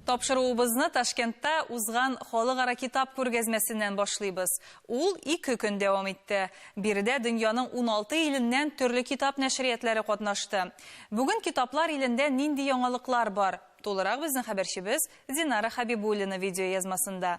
Тапшыруыбызны Ташкентта узган халыкара китап күргәзмәсеннән башлыйбыз. Ул ике көн дәвам итте. Биредә дөньяның уналты иленнән төрле китап нәшриятләре катнашты. Бүген китаплар илендә нинди яңалыклар бар? Тулырак безнең хәбәрчебез Динара Хәбибуллина видеоязмасында.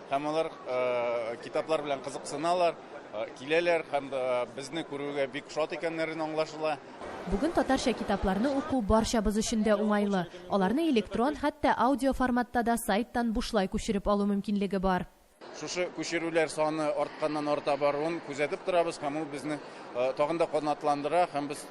Һәм алар китаплар белән кызыксыналар, киләләр һәм безне күрүгә бик шат икәннәрен аңлашыла. Бүген татарча китапларны уку барчабыз өчен дә уңайлы. Аларны электрон, хәтта аудио форматта да сайттан бушлай күчереп алу мөмкинлеге бар. Шушы күчерүләр саны артканнан-арта баруын күзәтеп торабыз һәм ул безне тагын да канатландыра һәм без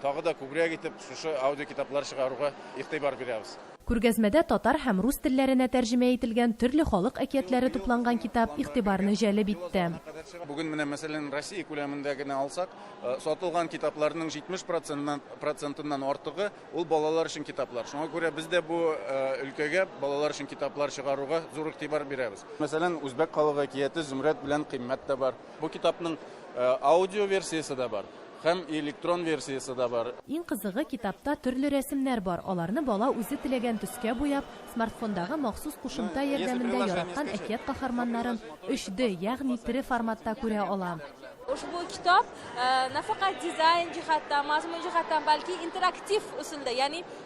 тагы да күбрәк итеп шушы аудиокитаплар чыгаруга игътибар бирәбез. Күргәзмәдә татар һәм рус телләренә тәрҗемә ителгән төрле халык әкиятләре тупланган китап игътибарны җәлеп итте. Бүген менә, мәсәлән, Россия күләмендә генә алсак, сатылган китапларның 70 процентыннан процентыннан артыгы, ул балалар өчен китаплар. Шуңа күрә без дә бу өлкәгә, балалар өчен китаплар чыгаруга зур игътибар бирәбез. Мәсәлән, Үзбәк халык әкияте Зөмрәт белән Кыйммәт тә бар. Бу китапның аудиоверсиясе дә бар. Һәм электрон версиясе дә бар. Иң кызыгы, китапта төрле рәсемнәр бар, аларны бала үзе теләгән төскә буяп, смартфондагы махсус кушымта ярдәмендә яраткан әкият каһарманнарын 3D, ягъни тере форматта күрә ала. Ошбу китап нәфәкать дизайн җиһаттан, мазмун җиһаттан, бәлки интерактив ысулда, ягъни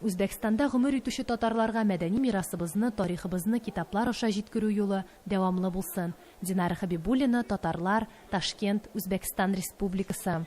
Үзбәкстанда гомер итүче татарларга мәдәни мирасыбызны, тарихыбызны китаплар аша җиткерү юлы дәвамлы булсын. Динара Хәбибуллина, Татарлар, Ташкент, Үзбәкстан Республикасы.